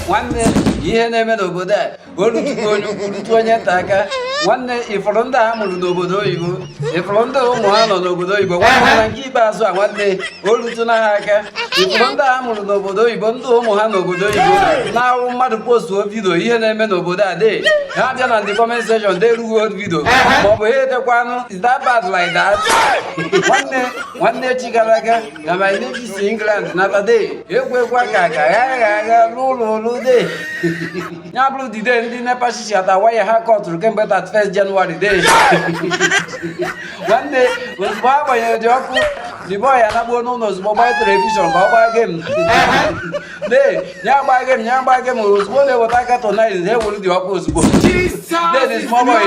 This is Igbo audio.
nwanne ihe na-eme n'obodo a o lutulu onye ukwu rutu onye nta aka nwanne ị fụrụ ndị a mụrụ n'obodo oyibo ifụrụ ndị ụmụ ha nọ n'obodo oyibo nwanne na nke ikpeazụ a nwanne o lutuna ha aka ị fụrụ ndị a mụrụ n'obodo oyibo ndị ụmụ ha nọ n'obodo oyibo na-ahụ mmadụ postuo video ihe na-eme n'obodo a dee ha bịa na the comment section dee erughị old video maọbụ ha edekwanụ is that bad like that nwanne nwanne echi gara aga na my name is England nata de ekwekwa ka ka ya agha agha n'ụlọ ụlọ de ya bụrụ the day ndị NEPA shishi ata waya ha kọtụrụ kemgbe 31 January de nwanne ozugbo a gbanyere the ọkụ the boy a nagbuo n'ụlọ ozugbo gbaa telivishọn ka ọ gbaa game de ya gbaa game ya gbaa game ozugbo na-eweta cartoon na ewuru the ọkụ ozugbo de the small boy